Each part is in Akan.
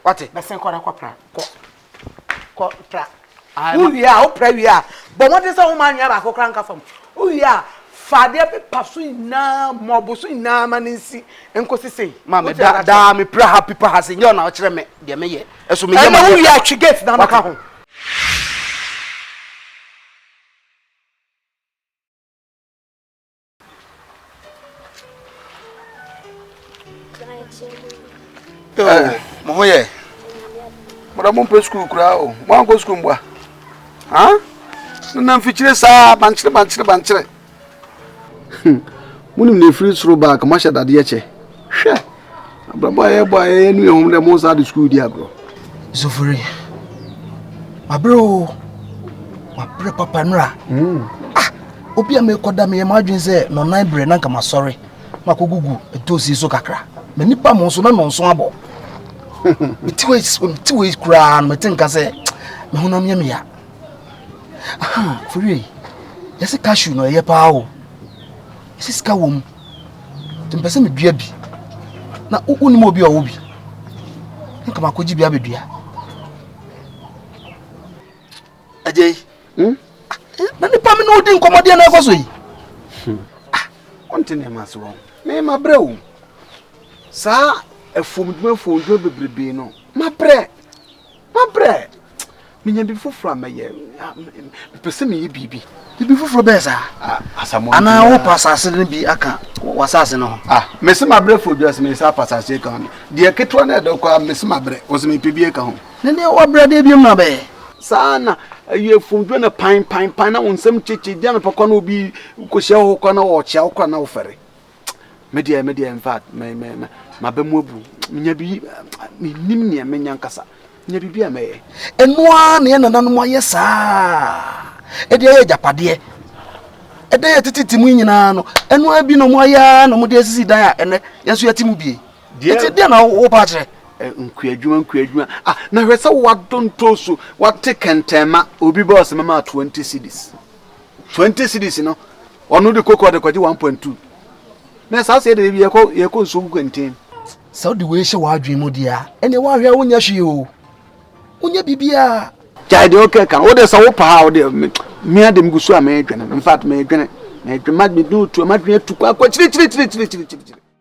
wate bɛsen kɔ na kɔ pra kɔ kɔ pra wo wie a wo pra wie a bɔ mmɔden sɛ woma anwea baako kora nka fam wo wie a fa adeɛ pepa so nyinaa mɔbo so nyinaa ma ne nsi nkɔsi sei ma me da daa me pra ha pepa ha se nyɛ ɔna ɔkyerɛ me deɛ meyɛ ɛso meyɛ ma wo wie a twe gate na maka ho mo ho yɛ mɔdɔ mo mpɛ sukuu koraa o mo ankɔ sukuu mbua han ne nam fikyire saa bankyere bankyere bankyere mo nim na efiri soro baa ka mo ahyɛ dadeɛ kyɛ hwɛ. Abrabɔ a yɛbɔ a yɛyɛ no yɛ hom dɛ mo nsa de sukuu di agorɔ. Zofori, mabrɛ o, mabrɛ papa nura. Hmm. Ah, obi a mekɔda meyɛ m'adwene sɛ nɔnan berɛ na nka masɔre makɔgugu ntoosi so kakra. M'ani pa mo nso na nɔnso abɔ. Mete wei mete wei koraa no mete nka sɛ me honam yɛ me ya. Aha, fori yɛsi cashew no ɛyɛ paa o. Ɛsi sika wɔ mu. Mpɛ sɛ medua bi na wonim obi a ɔwɔ bi. Nka makɔgye bi abɛdua. Agya yi, hmm? na nipa me ne wodi nkɔmmɔdeɛ na ɛkɔ so yi. Hmm. Ah, wonte nneɛma ase wɔ me mabrɛ o. Saa afuomdwuma afuomdwuma bebrebe no mabrɛ. Mabrɛ! Menya biribi foforɔ a mɛyɛ. Mepɛ sɛ meyɛ biribi. Biribi foforɔ bɛyɛ saa? Asamoah Anaa Ntua. wopa asase no bi aka w'asase no ho? Ah, mese mabrɛ for dwa, sɛ meyɛ saa a, pa asase aka ho no. Deɛ ketewa no a ɛdɔ koraa, mese mabrɛ. Ɔse mepɛ bi aka ho. Ne deɛ woabrɛ deɛ biom na wobɛyɛ? Saa na ɛyɛ for dwa na pan, pan, pan na wo nsam kyekye. Gye anɔpa koraa na obi kɔhyia wo hɔ koraa na ɔkyea wo koraa na wofɛre. me deɛ me deɛ in fact me me me maba mu abu menya bi menim nea menya nkasa menya biribi a mɛyɛ ɛno ara na yɛ nananom ayɛ saa ɛde ayɛ agyapadeɛ ɛdan a ɛtete ti mu nyinaa no ɛno ara bi na ɔmo ayɛ ara na ɔmo de asisi dan a ɛnɛ yɛn nso yɛte mu bie ɛti deɛ na wopa akyerɛ nkuadwuma nkuadwuma ah na hwɛ sɛ wadontoso wate kɛntɛnma obi bɔɔs mɛma twenty cities Twenty cedis no ɔno de koko ɔde kɔgye one point two na saa sɛ yɛde yɛkɔ yɛkɔ nsuo gu kɛntɛn. Sɛ wode wei hyɛ w'adwene mu deɛ a ɛnneɛ woahwɛ a wonyɛ hwee o wonyɛ biribiara. Gyae deɛ wokɛ ka no wode sɛ wopɛ ha a wode mea de megu so a medwene no infact medwene medwene ma medwene otu a madwene atu kɔ akɔ akyirikyirikyirikyirikyirikyiri.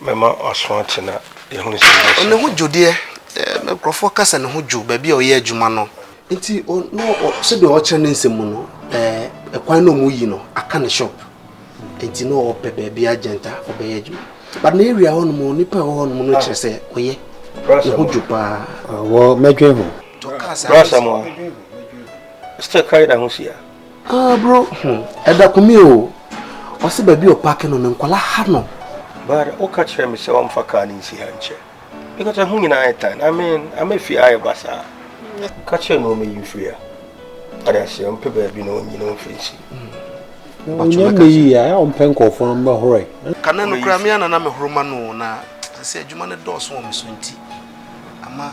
Mɛma w'aso ate na yɛahunu sɛ ɛyɛ sɛ. Ne ho dwo deɛ, na nkurɔfoɔ ka sɛ ne ho dwo baabi a ɔyɛ adwuma no. Nti o, na ɔ, sɛdeɛ wɔkyerɛ ne nsɛm mu no, ɛɛ, kwan na wɔyi no aka ne shop. Nti na ɔpɛ baabi agent a ɔbɛyɛ adwuma. But na area hɔ nom, nnipa a ɛwɔ hɔ nom no kyerɛ sɛ ɔyɛ, ne ho dwo paa. Ɔwɔ, mɛdwen ho. Tɔ kaa saa. Brasɛm a, still carry na ho si a. Ah, bro, hmm, ɛda kumi o. Ɔse baabi a ɔpaake no no nkɔla ha no. But woka kyerɛ me sɛ ɔmfa kaa no nsi ha nkyɛ because ɛho nyinaa ayɛ tan. I mean, ama fie ha ayɛ basaa. Ka kyerɛ no ɔmɛyi mfiri ha. Ade aseɛ, ɔmpɛ baabi na ɔnyi no mfiri nsi. Ɔnyɛ mmɛyi a, ɛyɛ ɔmpɛ nkurɔfoɔ no mmɛhorɔ ɛ. Kane no koraa me a na na mehoro ma no o, na sɛ sɛ adwuma no dɔɔso wɔ me so nti, ama.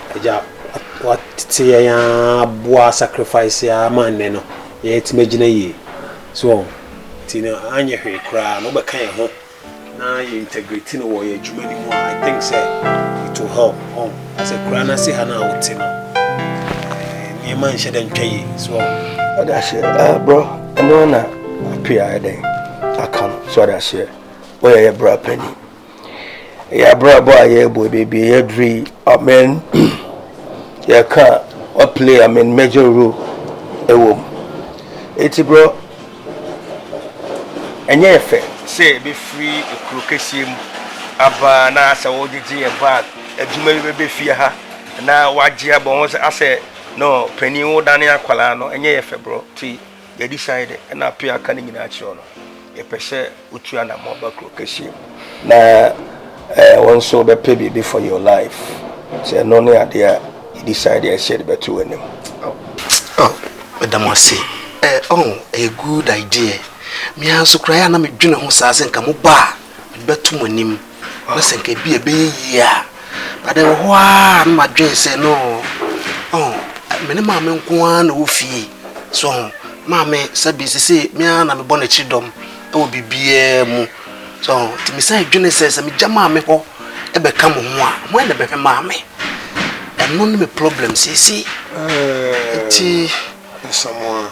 Agya, w'atete yɛn aa boa sacrifice yi aa ma nnɛ no yɛn atumi agyina yie. So wɔn? Nti no anyɛ hwee koraa no wobɛka yɛn ho na yɛ integrate no wɔ yɛn adwuma no mu a, I think sɛ it will help. Wɔn? As akuraa no ase ha no a wote no, eh, nneɛma nhyɛ dɛ ntwa yie. So wɔn? Ɔde aseɛ, ah, bro, ɛno na apia ɛdɛn aka no so ɔde aseɛ, woyɛ yɛ bra panyin. Ɛyɛ abrabɔ a yɛrebɔ yi, baabi a yɛaduru yi, amen. Yɛka a, waplay amen major role ɛwɔ mu. Eti bro, ɛnyɛ yɛ fɛ sɛ yɛbɛfiri kuro kɛseɛ mu aba na asɛ wogyegye yɛ bag, adwuma bi bɛbɛ fie ha na wagye abɔ ho sɛ asɛ no panin wodane akwadaa no, ɛnyɛ yɛ fɛ bro, ti. Yɛde sian de na ato yɛn aka no nyinaa kyerɛ no. Yɛpɛ sɛ wotu anamɔ ba kuro kɛseɛ mu. Na eh wo nso wobɛpɛ biribi for your life. Sɛ ɛno ne adeɛ a yɛde sian de ɛsɛ yɛde bɛto w'anim. Oh oh meda mo ase eh oh ɛyɛ good idea. Me ara nso koraa ɛyɛ a na medwene ho saa sɛ nka mobɔ a mede bɛto mo anim. Ɔpɛ sɛ nka ebia ɛbɛyɛ yie a, but ɛwɔ hɔ ara na madwen sɛ no ɔho me ne maame nko ara na ɛwɔ fie so ho maame sɛbi sese me ara na mebɔ n'akyiri dɔm ɛwɔ biribiara mu so nti me san dwene sɛ sɛ megya maame hɔ ɛbɛka mo ho a mo ayɛ na bɛhwɛ maame ɛno ne me problem sese nti. Samoa.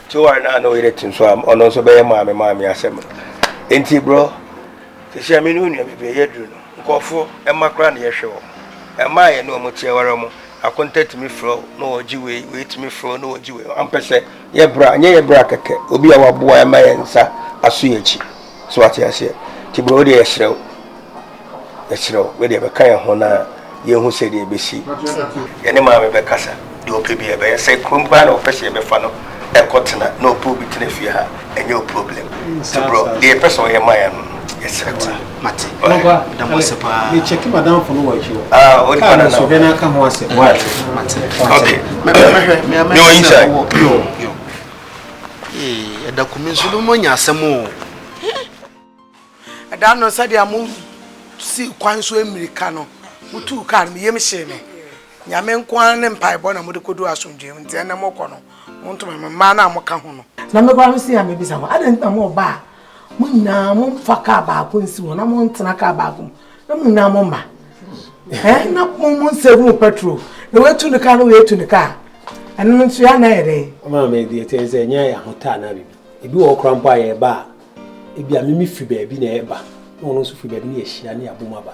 Joan a na ɔyere te nso a ɔno nso bɛyɛ maame maa me asɛm no nti bro sisi a me ne onua bebree yɛ duru no nkurɔfo mma koraa na yɛhwɛ wɔn mma a yɛne wɔn te aware wɔn akonta tumi frɛ wo na wɔgye wei wei tumi frɛ wo na wɔgye wei ampɛ sɛ yɛ bra nyɛ yɛ bra kɛkɛ obi a waboa ɛma yɛn nsa aso yɛn akyi So wate aseɛ? Nti bro wodeɛ yɛhyerɛ wo, yɛkyerɛ wo, wedeɛ bɛka yɛn ho na yɛhu sɛ deɛ ɛbɛsi. Yɛne maame bɛkasa, deɛ ɔpɛ bi ɛbɛyɛ, sɛ kurom koraa na ɔpɛ sɛ yɛbɛfa no ɛkɔ tena na ɔpɛ obi tena fie ha, ɛnyɛ o problem. Nti bro, deɛ yɛpɛ sɛ ɔyɛ ma yɛn no, yɛserɛ wo. Mate, meda mo ase paa. Me check madamfo no wɔ akyi hɔ. Ah, odi pa na na. Kaa no so hwɛ na aka ho asɛm. Mate. Mate. Okay. Mehwɛ, mehwɛ, mehwɛ. Yo, inside. Yo, yo. Ee, ɛda kumi nso no moanya asɛm o. Ɛda no sɛdeɛ mo si kwan so mmirika no, motuu kaa no, me yam hyee me. Nyame nko ara ne mpaebɔ na mode kɔdu asomdwoeɛ mu, nti ɛnɛ mokɔ no, montoma me mmaa no a moka ho no. Na mekɔ a mese a mebisa mo, adɛn nti na moɔba a mo nyinaa mo nfa kaa baako nsi hɔ na mo ntena kaa baako mu na mo nyinaa mo mma ɛn na mo mo nsave mo petrol na wɔatu ne kaa na wɔatu ne kaa ɛno nso yɛ anan yɛ dɛ. ɔmaa mi deɛ kyɛn sɛ ɛnyɛ ahotaa na bibi ebi wɔ ɔkora mpo a yɛreba a ebi a mimi firi baabi na ɛreba na ɔno nso firi baabi na yɛhyia ne abom aba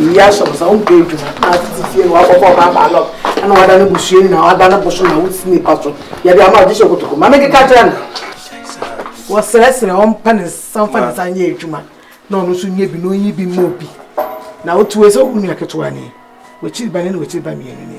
Eyi ahyɛ wo sɛ wompɛ adwuma na atete fie na woakɔbɔ ɔbaa baalɔp na woada no busua nyinaa woada no boso na wosi nipa so yɛde ama agye hyɛ kotoko ma mekeka kyerɛ no wɔsrɛsrɛ ɔmpa ne nsa mfa ne nsa nyɛ adwuma na ɔno nso nyɛ bi na ɔnyi bi mmɔ bi na wote wei sɛ wo nua ketewa ni wakyiri ba ne na wakyiri ba mmienu ni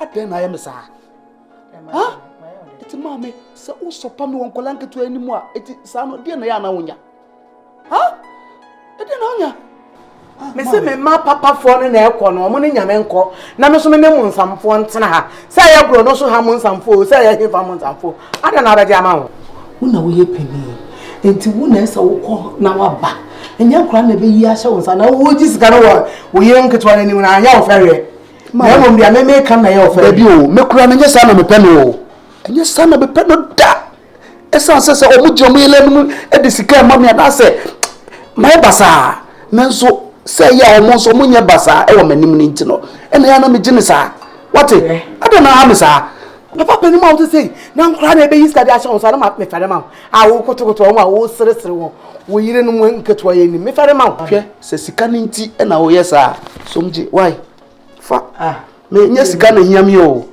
adɛn na ayɛ me saa ha ɛti maame sɛ wosɔpa me wɔ nkɔla nketewa anim a ɛti saa no deɛ na yɛ ana wonya ha ɛdeɛ na wonya me se me ma papafoɔ no na ɛkɔ no ɔmo ne nyame nkɔ na me so me ne mo nsamfoɔ ntena ha sɛ ɛyɛ borɔ no so ha mo nsamfoɔ o sɛ ɛyɛ hefa mo nsamfoɔ Ada na abɛgye ama wo. Wo na woyɛ panin. Nti wo na ɛsɛ wokɔ na waba. Ɛnyɛ nkora na ɛbɛyi ahyɛ wo nsa na wogye sika no wɔ wo yere nketewa no anim na anyɛ wo fɛreɛ. Na mmom deɛ meme ka na ɛyɛ wo fɛreɛ. Dabi o, me koraa menyɛ saa na mepɛ no o. Ɛnyɛ saa na mepɛ no da. Ɛsan sɛ sɛ wɔn gye wɔn yere anim de sika ɛma me anaasɛ mayɛ basaa. Nanso sɛ ɛyɛ a wɔn nso wɔn nyɛ basaa ɛwɔ m'anim no nti no ɛna yɛ na megye ne saa. Wate? Ada na aha me saa. papa panin mu a wote sei na nkora na ɛbɛyi sika de ahyɛ wɔn so na mefɛre ma wo a wokotokoto wɔn a woseresere wɔn wo yere no mu nketewa yɛ nim mefɛre ma wo hwɛ sɛ sika no nti na woyɛ saa som gye wae fa ah. menyɛ sika na hia me o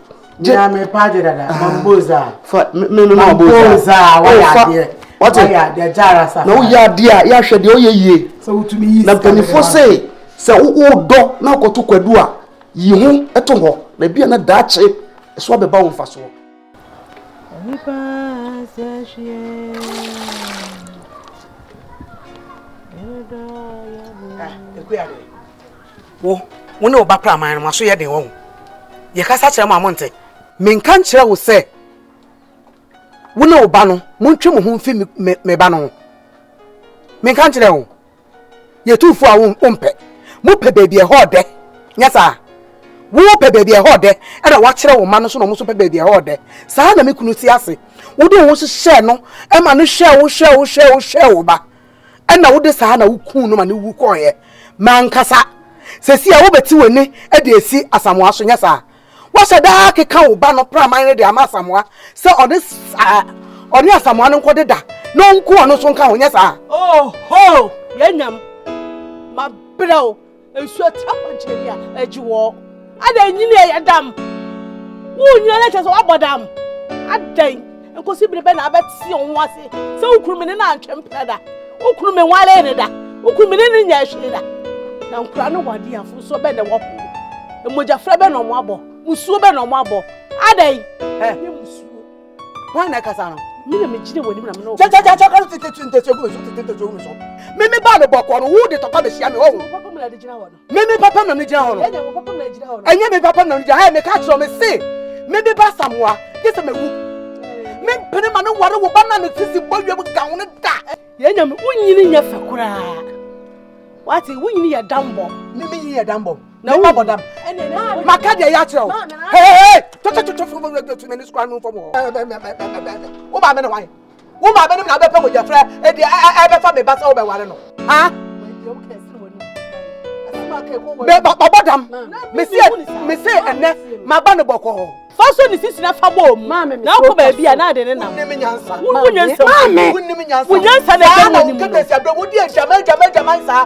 gye na mepa gye dada ah. mamboza fa me me me mamboza oh, wayɛ adeɛ wate wayɛ adeɛ gyara sa na woyɛ adeɛ a yɛahwɛ deɛ woyɛ yie sɛ wotumi yi sika na mpanimfoɔ sɛ sɛ wodɔ na akɔto kwadu a Yi ho to hɔ na ebia na daakye ɛso abɛba wo mfasoɔ. Nipa sɛ hwie wo wo ne wo ba praman no maso yɛ den wɔ ho yɛkasa kyerɛ mo a monte menka nkyerɛ wo sɛ wo ne wo ba no montwe mo ho mfi me ba no ho menka nkyerɛ wo Yɛ tuufoɔ a wompɛ. Mopɛ baabi a ɛhɔ yɛ dɛ, nyɛ saa? Wopɛ baabi a ɛhɔ yɛ dɛ, ɛnna woakyerɛ wo mma no nso na wɔn nso pɛ baabi a ɛhɔ yɛ dɛ. Saa ara na me kunu te ase. Wode wo ho hyehyɛɛ no ma no hwɛɛ wo hwɛɛ wo hwɛɛ wo hwɛɛ wo ba, ɛnna wode saa na wukuu no ma no wu kɔeɛ. M'ankasa! Seesei a wobɛte w'ani de asi Asamoah so, nyɛ saa? Woahyɛ da ara keka wo ba no praman no de ama Asamoah sɛ ɔne saa ɔne Asamoah no nkɔ deda na ɔnku ɔno nso nka ho nyɛ saa. Oho! Yɛn nyam ma brɛ o nsuo atira kwankyerɛ a agye wɔ adɛn nyini ɛyɛ dam wo nyina na kyerɛ sɛ woabɔ dam adɛn Nkosi bere bɛn na abɛte wo ho ase sɛ wo kunu mene no antwe mpena da? Wo kunu me nwalee ne da? Wo kunu mene no nyɛ hwee da? Na nkura ne wade afo nso bɛn na ɛwɔ ho? Mmogyafra bɛn na ɔmo abɔ? Musuo bɛn na ɔmo abɔ? Adɛn? Ɛ? Nye musuo. Wɔn na ɛkasa no. Me na megyina wɔ anim na me na ɔmo. Kyɛ kyɛ kyɛ kyɛ kɔn tete tete ntɛsuo gu me so tete ntɛsuo gu me so. Me me baa no bɔkɔɔ no wo de tɔkwa bɛhyia me ɔho. Papa mu na de gyina hɔ no. Me me papa na megyina hɔ no. Ɛnyɛ me papa na megyina hɔ. Ɛyɛ meka kyerɛ me se me me ba Samoa gye sɛ mewu. Me mpene ma ne ware wo ba na ne sisi bɔ wiem gawo ne da. Yɛn nyame wonyini nyɛ fɛ koraa. Wate wonyini yɛ dambɔ. Me me yɛ dambɔ. Na wo bɔ dam. Maka deɛ yɛ akyerɛ wo. Hey hey hey. Tɔtɔtɔtɔ fofofo tu me ne sukura no fam hɔ. Wo ba me ne wan? Wo maame no na abɛpɛ mogyafra ɛde ɛbɛfa me ba sɛ wobɛware no. Ha? Me ba bɔbɔ dam. Me se me se ɛnɛ ma ba no bɔkɔ hɔ. Fa so ne sisi na fa bɔ mu. Maame me. Na akɔ baabi a na ade ne nam. Wonnim nyansa. Wonnim nyansa. Maame. Wonnim nyansa. Wonyansa na ɛbɛn wonnim. Saa na wokɛtɛ si abirɛ wodi ɛgyama ɛgyama ɛgyama saa.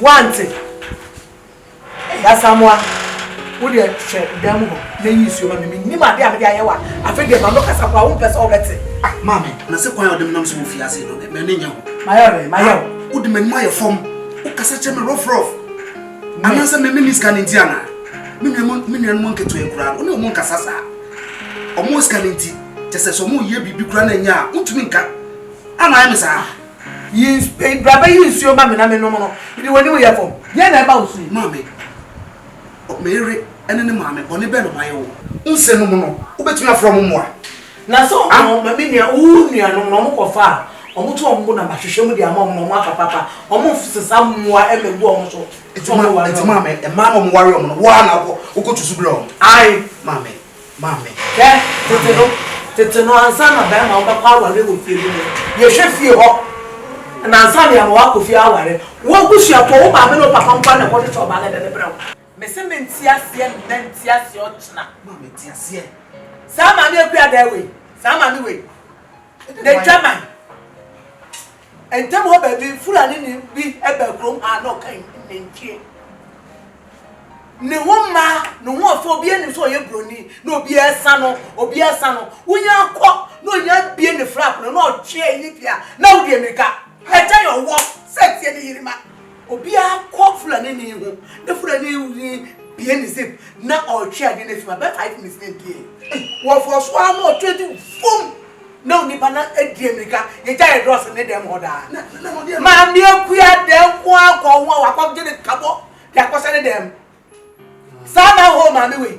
Woante? Ɛyɛ Asamoah, wo deɛ hwɛ dan mu hɔ na yi nsuo ma me, mennim adeɛ a mede ayɛ wo a, afei deɛ m'ano kasa mpo a wompɛ sɛ wobɛte. Ah, Maame, na sɛ kwan a wode menam so wɔ fie ase yi no, m'ani nyɛ ho? Mayɛ dɛn? Mayɛ wo? Wode m'anim ayɛ fam, wokasa kyerɛ me rɔfrɔf. Anaasɛ me menni sika no nti anaa? Me nuanom, me nuanom nketewa yi koraa no, wo ne wɔn nkasa saa. Wɔwɔ sika no nti, kyɛ sɛ sɛ wɔreyɛ biribi koraa na ɛnyɛ a, wontumi nka. Ana ayɛ me saa? Yi ns eh, bra bɛyi nsuo ma me na mennom no, de w'anim yɛ fam. Deɛn na ɛba wo so yi? Maame, O me yere ne ne maame, bɔne bɛn na mayɛ wo? Nse nom no, wobɛtumi afrɛ wɔn mmoa. Na sɛ wɔn a wɔma me nua, wo nuanom no, wɔkɔfa a, wɔto wɔn bo na mahwehwɛ mu de ama wɔn na wɔaka papa, wɔmfsesa mmoa mmɛgu wɔn so sɛ wɔbɛware wɔn. Enti maame, mmaa no a wɔware wɔn no, wo ara na wokɔ, wokɔtu so brɛ wɔn? Ae. Maame. ma me. Hwɛ, tete no, tete no, ansa na bɛrima a ɔbɛkɔ aware wɔ fie bi no, yɛhwɛ fie hɔ, na ansa na yɛama wakɔ fie aware. Wo abusuafoɔ, wo maame ne wo papa nko ara na ɛkɔhwehwɛ ɔbaa no de no brɛ wo. Mese mente aseɛ nnɛ, nte aseɛ ɔkyena. Ma mete aseɛ. Saa maame akuadaa wei, saa maame wei, n'adwaman. Ntam hɔ baabi, Fulanini bi baa kurom ha na ɔka nantwie. Ne ho mma, ne ho ɔfɛ, obiara nim sɛ ɔyɛ buroni, na obiara sa no, obiara sa no. Wonya akɔ na onya abie ne flap no na ɔtwe ayi ne fie a, na wode mmirika. Ɛkyɛ yɛ ɔwɔ sɛ tie ne yere ma. Obiara kɔ Fulanini ho na Fulanini bue ne zip na ɔretwe adeɛ no afim a, bɛyɛ five minutes na ɛdieɛ. Wɔfɔɔ so ara na ɔtwe de fum na onipa no adi ammirika. Yɛgya yɛ drɔs ne dɛm hɔ daa. Maame Akua da nko ara kɔɔ ho a wakɔgye ne kabɔ de akɔhyɛ ne dɛm. Saa na hoo maame wei.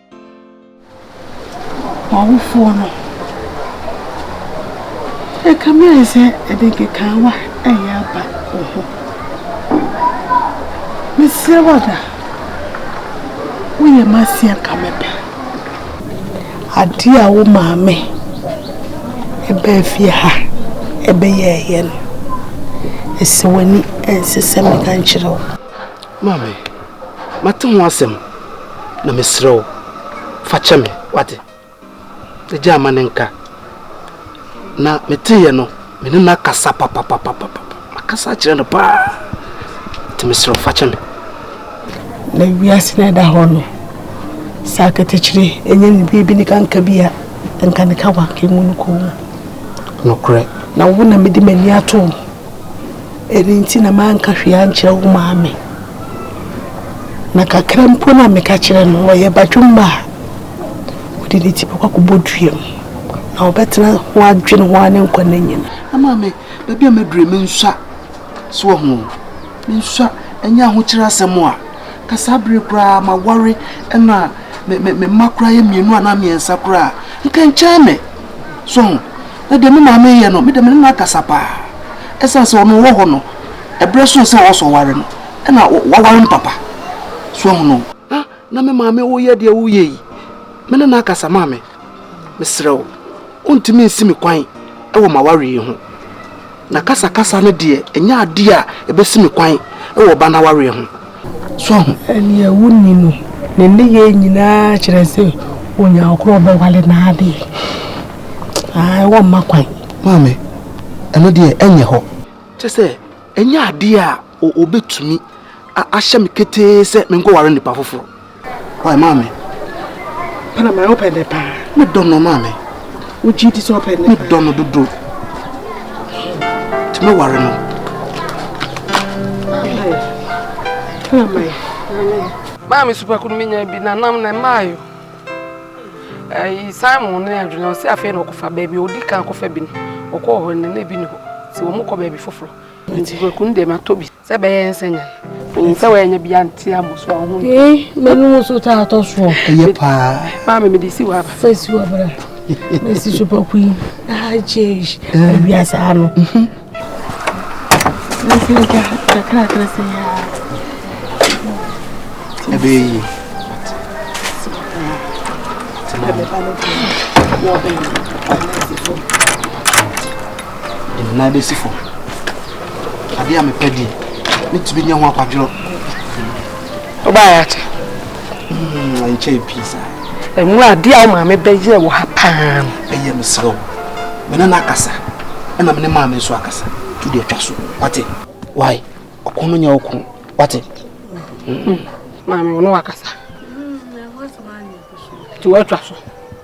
W'awofoɔ no ɛkame sɛ ɛde nkekaawa ɛyɛ aba wo ho. Mesrɛ wo ada, woyɛ m'aseɛ nka me pɛ. Adeɛ a wo maame ɛbaa fie ha ɛbɛyɛɛyɛ no, ɛsɛ w'ani ɛnsesɛ meka nkyerɛ wo. Maame. Mate ho asɛm, na mesrɛ wo, fa kyɛ me, wate? Agya ama ne nka. Na meteeɛ no, me ne no akasa papapapapa. Makasa akyerɛ no paa. Nti mesrɛ wo, fa kyɛ me. Na wiase na ɛda hɔ no, sɛ aketekyere ɛnyɛ ne biribi ne kanka bi a, nka ne ka wanka mu no kɔn mu. Nokorɛ. Na wo na mede m'ani ato wo. Ɛno nti na manka hwee ankyerɛ wo maame. Na kakra mpo no a meka kyerɛ no, ɔyɛ badwemma a ɔde ne ti bɛkɔ akɔbɔ dua mu, na ɔbɛtena ho adwene ho ara ne nkwa nna nyinaa. Na maame, baabi a maduru yi, mensua. So woahu o? Mensua. Ɛnyɛ ahokyere asɛm a. Ka saa bere yi koraa maware na me mma koraa yɛ mmienu anaa mmiɛnsa koraa a, nka ɛnkyɛn me. So woahu? Na deɛ me maame reyɛ no, me deɛ me ne no akasa pa ara. Ɛsiane sɛ ɔno ɔwɔ hɔ no, ɛberɛ soɔ sɛ ɔwɔ sɛ ɔware no, ɛna waware no papa. So woahu no? Ah, na me maame woyɛ deɛ woreyɛ yi, me ne no akasa. Maame, mesrɛ wo, wontumi nsi me kwan wɔ m'awareɛ yi ho. Na kasakasa no deɛ, ɛnyɛ adeɛ a ɛbɛsi me kwan wɔ ɔba no awareɛ ho. So ahu? Nea wonni no, ne nneyɛɛ nyinaa kyerɛ sɛ onyaa koro a ɔbɛware no ara deɛ, aane, wɔmma kwan. Maame, ɛno deɛ, ɛnyɛ hɔ. Kyerɛ sɛ, ɛnyɛ adeɛ a wɔbɛtumi ahyɛ me ketee sɛ menkɔware nnipa foforɔ. Why maame? Pana maame wopɛ dɛ paa. Me dɔ no maame. Wogye di sɛ wopɛ dɛ? Me dɔ no dodo. Ti me ware no. Pana maame. Maame supako no menya bi na nam na maayo. Ɛyi Simon ne adwene ɔsɛ afei na ɔkɔfa baabi ɔdi kan kɔfa bi no ɔkɔɔ hɔ ne na ebi ne hɔ sɛ wɔn kɔ baabi foforɔ nti supako no deɛ matɔ bi. sɛ bɛyɛ nsɛnya ɛyɛ sɛ wɔyɛ nya bia nte a mɔso a ɔho ee mɛnum nso taa tɔ soɔ ɛyɛ paa paa mɛ mede si wɔ aba fɛ si wɔ abara mɛsi so pɔku yi aha change awia saa no ɛbɛyɛ yi ɛnna bɛsi fam Adeɛ a mepɛ deɛ, metumi nya ho akwadworɔ. Wobaeɛ akyɛ? Nkyɛ hmm, pii saa. Ɛmu adeɛ a wo maame bɛyɛɛ wɔ ha paa no. Ɛyɛ mesrɛ wo, me ne no akasa, ɛna me ne maame nso akasa. Tu deɛ twa so, wate? Wae, ɔko no nyɛ wo ko, wate? Hmm. Maame, wo ne wakasa. Tu atwa so.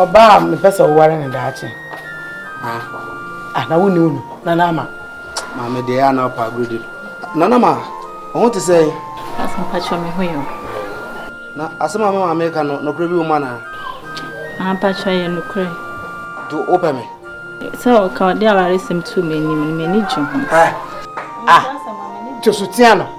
Ɔbaa a mepɛ sɛ woware ne daakye. Ah, na wonni wo no, Nana Ama. Maame deɛ ɛyɛ na ɔpa agorodi. Nana Ama, wo ho te sɛ? Asa mpakyɛ me ho yɛ. Na asɛm a me maame ka no, nokorɛ bi wɔ mu anaa? Ampakyɛ yɛ nokorɛ. To wopɛ me? Sɛ ɔka ɔde awaresɛm tu m'anim no, m'ani gye ho. Ah, ah, kyɛ so tia no.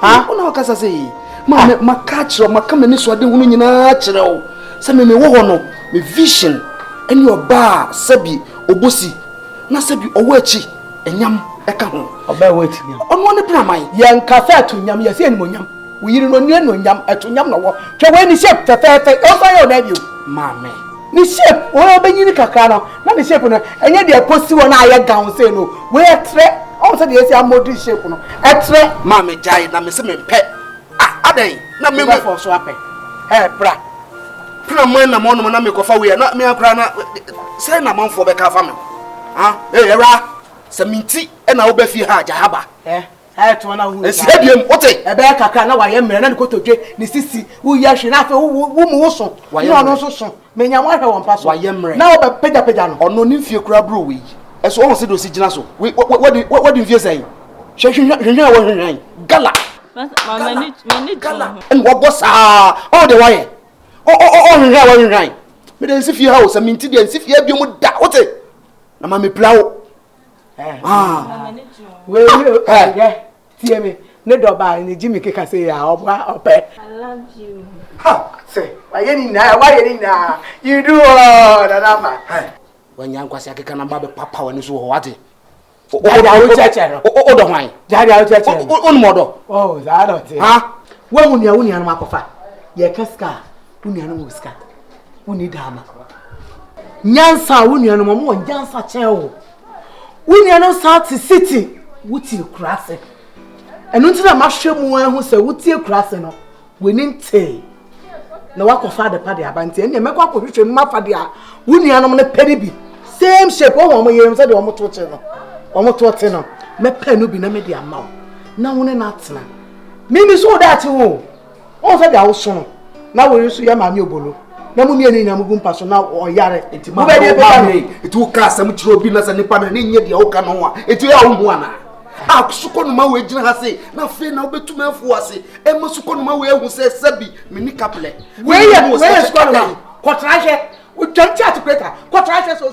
ha wo na ɔkasa sɛ yi maame maka akyerɛ wo maka m'ani so ade hunu nyinaa kyerɛ wo sɛ meme wɔ hɔ no me vision ɛne ɔbaa sɛbi ɔbɔsi na sɛbi ɔwɔ akyi ɛnyam ɛka ho ɔbaa ɛwɔ akyi nyam ɔno ne praman yɛnka sɛ ɛto nyam yɛsɛ ɛnim onyam woyiri no ɔnua no onyam ɛto nyam na wɔ twɛ wɔ ani sɛ fɛfɛɛfɛ ɛwɔ so ayɛ ɔna bio maame Ne shape wɔyɛ ɔbɛnyini kakra no na ne shape no ɛnyɛ deɛ ɛkɔsi hɔ na ayɛ gawn sei no wei ɛtrɛ ɔhu sɛ deɛ yɛsi amodel shape no ɛtrɛ. Maa me gyae na me se me mpɛ ah adɛn na me. Wo bɛfɔ so apɛ ɛɛ bra. Pena man na mɔnom na me kɔfa wei a na me akora na sɛ na manfoɔ bɛka afa me ho ah ee ɛwura sɛ me nti na wo bɛ fie ha gya ha ba. Eh. ɛto ana hu ɛsi ha biam wote ɛbɛyɛ kakra na wayɛ mmerɛ na ne kotodwe ne sisi woyɛ hwe na afei wo mu wo so ne ɔno nso so menya mo ahwɛ wɔn mpa so wayɛ mmerɛ na wɔbɛpagyapagya no ɔno ne mfie koraa bro wei ɛso ɔho sɛ de ɔsi gyina so wadi mfie sɛn hwɛ hwehwɛ a wɔhwehwɛn gala ɛne wɔbɔ saa ɔho de wayɛ ɔhwehwɛ a wɔhwehwɛn mede nsi fie ha o sɛ menti deɛ nsi fie abio mu da wote na ma mepira wo tie me ne dɔbaa ne gyi me keka sɛ yɛ a ɔboa ɔpɛ sɛ wayɛ ne nyinaa wayɛ ne nyinaa you do all nanama wanya nkwasi akeka na ba bɛpapa w'ani so wɔ hɔ wate wodɔ hwan wonom ɔdɔ woahu nea wo nuanom akɔfa yɛka sika a wo nuanom wɔ sika wonni daama nyansa a wo nuanom ɔmo wɔ nyansa kyɛn wo wo nuanom saa te city wotie kura ase ɛno nti na mahwɛ mu ahu sɛ wotie kura ase no w'ani ntee na wakɔfa adepa de aba nti ɛnneɛ mɛkɔ akɔhwehwɛ mu mafa de a wo nuanom no pɛ no bi same shape wɔn wɔn yɛrɛm sɛdeɛ wɔn to kye no wɔn to te no mɛpɛ no bi na mɛde ama wo na wo ne no atena mimi so wo daakye wo wɔn sɛ deɛ awoso no na wei nso yɛ maame obolo na mu mmienu nyinaa mu gu mpa so na ɔyare nti ma bɛyɛ bɛyɛ no nti woka asɛm kyerɛ obi na sɛ nipa no ne nyɛ deɛ woka no ho a nti yɛ a wohu anaa a sukɔnoma wei gyina ha se na afei na wobɛtumi afu ase ɛma sukɔnoma wei ahu sɛ sɛbi menni kaplɛ wei yɛ sukɔnoma kɔtra hwɛ wotwam te atekweta kɔtra hwɛ so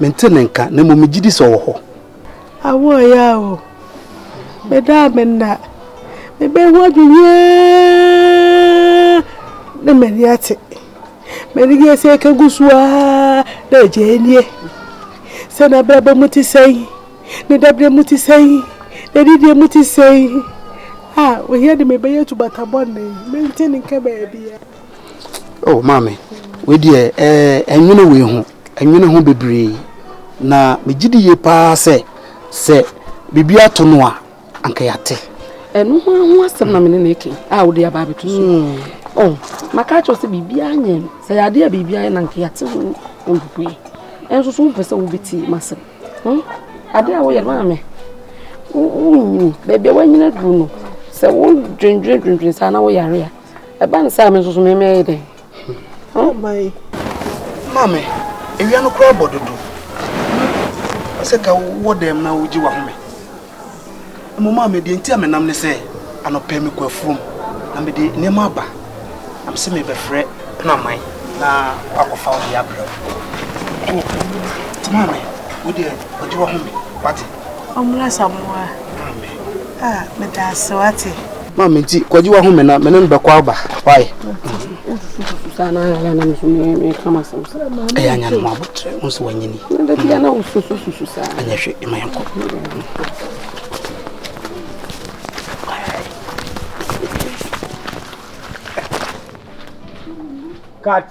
Mente ne nka, na mmom megye di sɛ ɔwɔ hɔ. Awo ɛyɛ awo. Meda a menna. Mebɛn ho adwene na m'ani ate. M'ani gye sɛ ɛka gu so ara na agya anie. Sɛ n'abrabɔ mu te sɛn, ne dabrɛ mu te sɛn, n'adidie mu te sɛn. A ohia de mebɛyɛ tu batabɔne. Mente ne nka baabiara. Oh maame, wei deɛ ɛɛ nwene wei ho, nwene ho bebree. Na megye di yie paa sɛ sɛ biribi ato no a, anka yɛate. Ɛno ho ho asɛm na mene ne ke a wode aba abɛto so. Hmm. Oh, maka kyerɛ sɛ biribiara nyɛ no. Sɛ yɛade a biribiara yɛ na anka yɛate ho mpopoe. Ɛnso so wompɛ sɛ wobɛtie m'asɛm. Hmm? Ade a woyɛ no maame, wonyini. Baabi a woanyini aduru no, sɛ wodwendwendwendwen saa na woyare a, ɛba ne saa me nso so memɛyɛ dɛn maame awia no koraa bɔ dodo sɛ ka wowɔ dɛm na wogye wahome mmom maame deɛ nti a menam ne sɛ anɔpɛ mekɔ afuom na mede nneɛma aba na me sɛ mebɛfrɛ penaman na wakɔfa wo deɛ abrɛ wo nti maame wodeɛ ɔgye wahome wate Ɔmmra Asamoah a meda ase wate. Ma me nti kɔgye wa home na me ne no bɛkɔ aba why. Saa na ayɛ na nso me me ka ma sɛm sɛ. Ɛyɛ anya no mu abotre wo nso wanyini. Na da bia na wo susu susu saa. Anya hwe ma yɛn kɔ. Cut.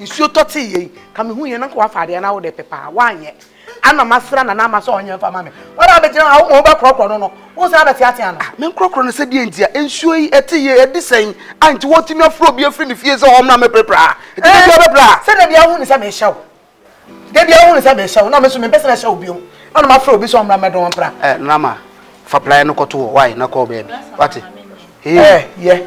Nsuo tɔ tee yei ka me hu yɛn nanka wafa adeɛ na wode pepa a wanyɛ ana masra nana ama sɛ ɔnyɛ mfa ma me wɔn a bɛgyina hɔ wɔn bɛkorɔkorɔ no no wo san bɛte ase ano. Me nkorɔkorɔ no sɛ deɛ nti a nsuo yi ɛte yei ɛde sɛn a nti wɔtumi afrɛ obi afiri ne fie sɛ ɔmmra mɛpirapira ha nti da bia bɛpira ha. Sɛdeɛ bia wohu ne sɛ mehyɛ wo da bia wohu ne sɛ mehyɛ wo na me so mempɛ sɛ mɛhyɛ wo bio ana mafrɛ obi sɛ ɔmmra mɛdɔn mpira. Ɛ nana ama fa plaeɛ no kɔto hɔ wae na kɔɔ baabi wate. Ɛ yɛ.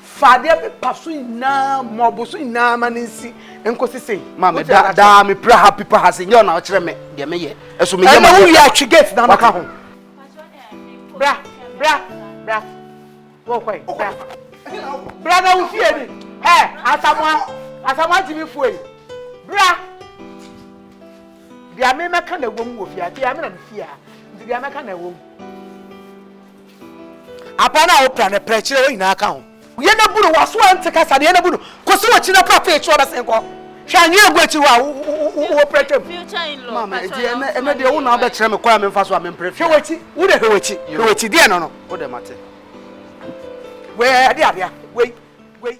Fa adeɛ pepa so nyinaa, mɔbo so nyinaa ma no nsi nkosi sei. Maame da daa me pira ha pipa ha se nyɛ ɔna ɔkyerɛ me deɛ me yɛ. Ɛso me yɛ ma yɛ. Ɛna wo wia twi gate na maka ho. Bra bra bra. Wo kɔ yi bra. Bra na wo fie ni. Hɛ asamoa asamoa ti mi fo yi. Bra. Deɛ me mɛka na ɛwɔ mu wɔ fie a deɛ me na me fie a nti deɛ mɛka na ɛwɔ mu. Apa no a wopra no prɛ kyerɛ wɔn nyinaa ka ho. Yɛ na bu no, w'aso ante kasa no, yɛ na bu no, kɔsi w'akyi na pra pee kyerɛ ɔbɛsen kɔ. Hwɛ anwea agu akyi hɔ a wowɔ prɛ twam. Maame, enti ɛnɛ, ɛnɛ deɛ wo na wobɛkyerɛ me kwan a memfa so a mempre fie a. Hwɛ w'akyi, wo deɛ hwɛ w'akyi, hwɛ w'akyi, deɛ no no. Wo deɛ mate. Wei ɛde adeɛ a, wei, wei.